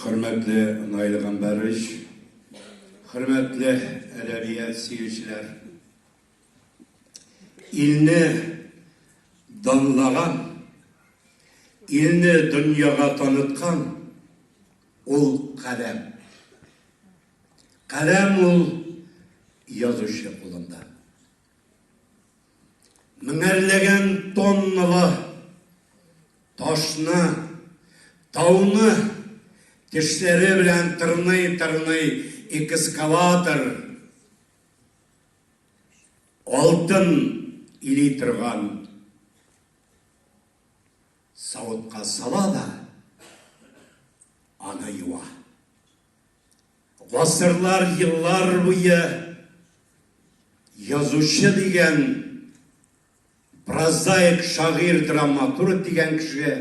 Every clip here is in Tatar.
Хөрмәтле Наил Гамбәрович, хөрмәтле әдәбият сөючеләр! Илне данлаган, илне дөньяга таныткан ул каләм. Каләм ул язучы кулында. Меңәрләгән тонналы ташны, тауны тешләре белән тырный-тырный экскаватор алтын или торган савытка сала да аны юа. Гасырлар, еллар буе язучы дигән, прозаик, шагыйрь, драматург дигән кеше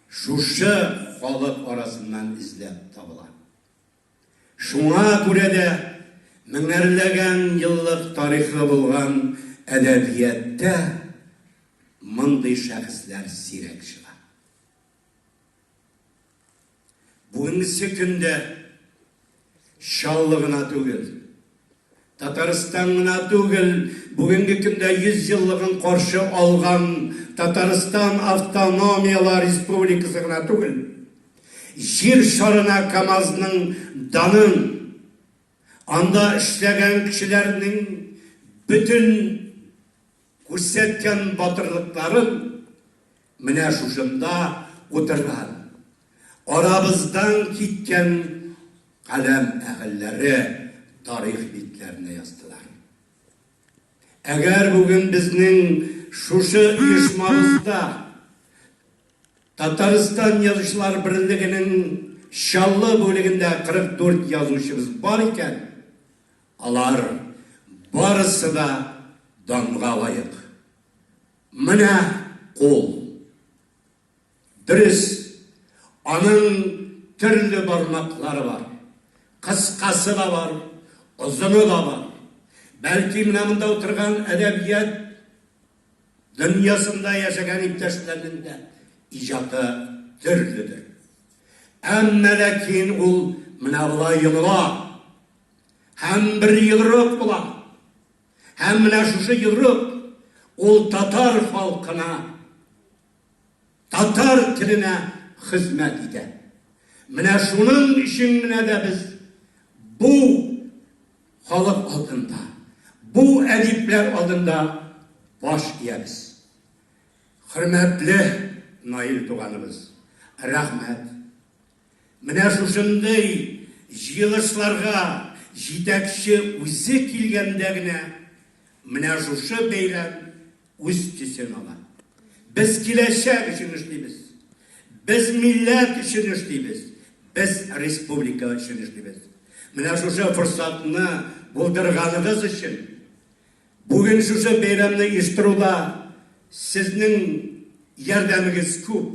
шушы халык арасыннан эзләп табыла. Шуңа күрә дә меңәрләгән еллык тарихы булган әдәбияттә мондый шәхесләр сирәк чыга. Бүгенге көндә Чаллы гына түгел, Татарстан гына түгел, бүгенге көндә 100 еллыгын каршы алган Татарстан автономияләр республикасы гына түгел, җир шарына КАМАЗның данын, анда эшләгән кешеләрнең бөтен Күрсәткән батырлыкларын менә шушында утырган арабыздан киткән каләм әһелләре тарих битләренә яздылар. Әгәр бүген безнең шушы оешмабызда Татарстан язучылар берлегенең Чаллы бүлегендә 44 язучыбыз бар икән, Алар барысы да данга лаек. Менә кул. Дөрес, аның төрле бармаклары бар. Кыскасы да бар, озыны да бар. Бәлки менә монда утырган әдәбият дөньясында яшәгән иптәшләрнең дә иҗаты төрледер. Әмма ләкин ул менә болай йомыла. Һәм бер йодрык була. Һәм менә шушы йодрык ул татар халкына, татар теленә хезмәт итә. Менә шуның өчен менә дә без бу халык алдында, бу әдипләр алдында баш иябез. Хөрмәтле Наил туганыбыз, рәхмәт. Менә шушындый җыелышларга җитәкче үзе килгәндә генә менә шушы бәйрәм үз төсен ала. Без киләчәк өчен эшлибез. Без милләт өчен эшлибез. Без республика өчен эшлибез. Менә шушы форсатны булдырганыгыз өчен бүген шушы бәйрәмне оештыруда сезнең ярдәмегез күп.